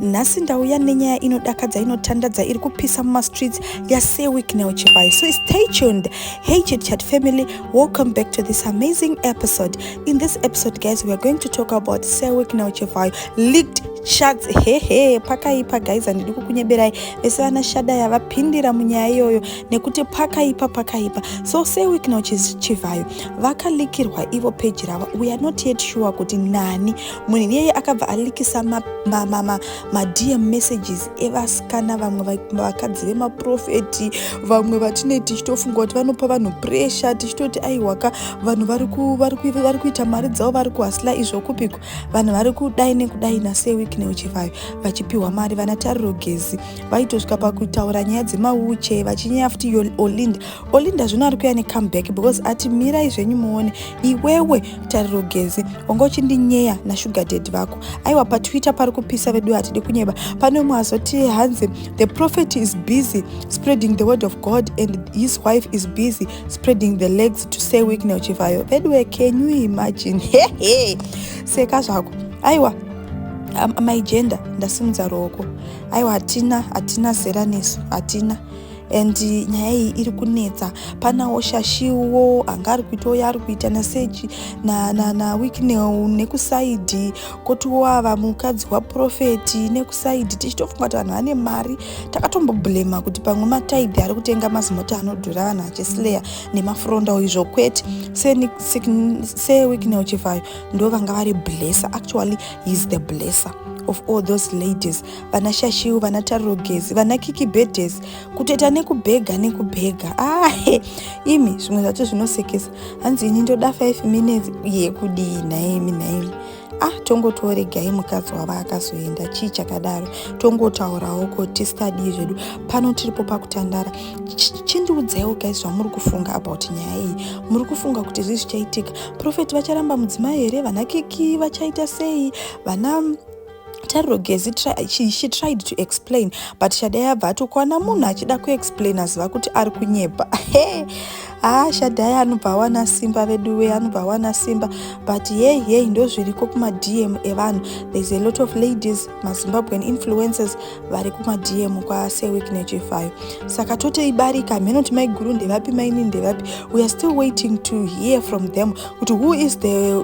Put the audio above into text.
nhasi ndauya nenyaya inodakadza inotandadza iri kupisa mumastreets yasir wicknel chipai so stay tuned hey chitchat family welcome back to this amazing episode in this episode guys we are going to talk about sir wicknel chipai leaked shats hehe pakaipa guys handidi kukunyeberai vese vana shada yavapindira munyaya iyoyo nekuti pakaipa pakaipa so sir wicknel chivhayo vakalikirwa ivo peji ravo we are not yet sure kuti nani munhu iyeye akabva alikisa madm ma, ma, ma, ma messages evasikana vamwe vakadzi vemaprofeti vamwe vatinei tichitofunga kuti vanopa vanhu pressure tichitoti aiwaka vanhu vari kuita mari dzavo vari kuhasla izvo kupiko vanhu vari kudai nekudai nase week neuchivayo vachipiwa mari vana tariro gezi vaitosvika pakutaura nyaya dzemauche vachinyaya futi olinda olinda zvino ari kuya necomeback because ati mirai zvenyu muone iwewe tariro gezi wanga uchindinyeya nasugar dad vako aiwa patwitter pari kupisa vedu hatidi kunyeba pane umwe azoti hanzi the prophet is busy spreading the word of god and his wife is busy spreading the legs to say weaknel chivhayo veduwe can you imagine hehe seka zvako aiwa amai jenda ndasimudza ruoko aiwa hatina hatina zera nesu hatina and nyaya iyi iri kunetsa panawo shashiwo anga ari kuitawo yaari kuita naseji nawicknel nekusaidhi kotiwo ava mukadzi waprofeti nekusaidhi tichitofunga kuti vanhu vane mari takatomboblema kuti pamwe mataidhi ari kutenga mazimota anodhura vanhu achislayer nemafrondawo izvo kwete sewicknel chivhayo ndo vanga vari blesser actually heis the blesser of all those ladies vana shashiu vana tarogezi vana kikibedhesi kutoita nekubhega nekubhega ahe ah, imi zvimwe zvacho zvinosekesa hanzi ini ndoda 5 minutes yekudii nhaimi nhaimi ah tongotoregai mukadzi wava akazoenda chii chakadaro tongotaurawo ko tistadii zvedu pano tiripo pakutandara chindiudzaiwo gai zvamuri kufunga about nyaya iyi muri kufunga kuti zvii zvichaitika profeti vacharamba mudzimai here vana kiki vachaita sei vana tariro gezi she, she tried to explain but shadai abva ati ukaona munhu achida kuexplain aziva kuti ari kunyepa he haa ah, shadai anobva awana simba vedu wee anobva awana simba but yei yei ndozviriko kumadm evanhu thereis a lot of ladies mazimbabwean influences vari kumadm kwaseweek nechefayo saka tote ibarika hameno kuti maiguru ndevapi maini ndevapi weare still waiting to hear from them kuti who is the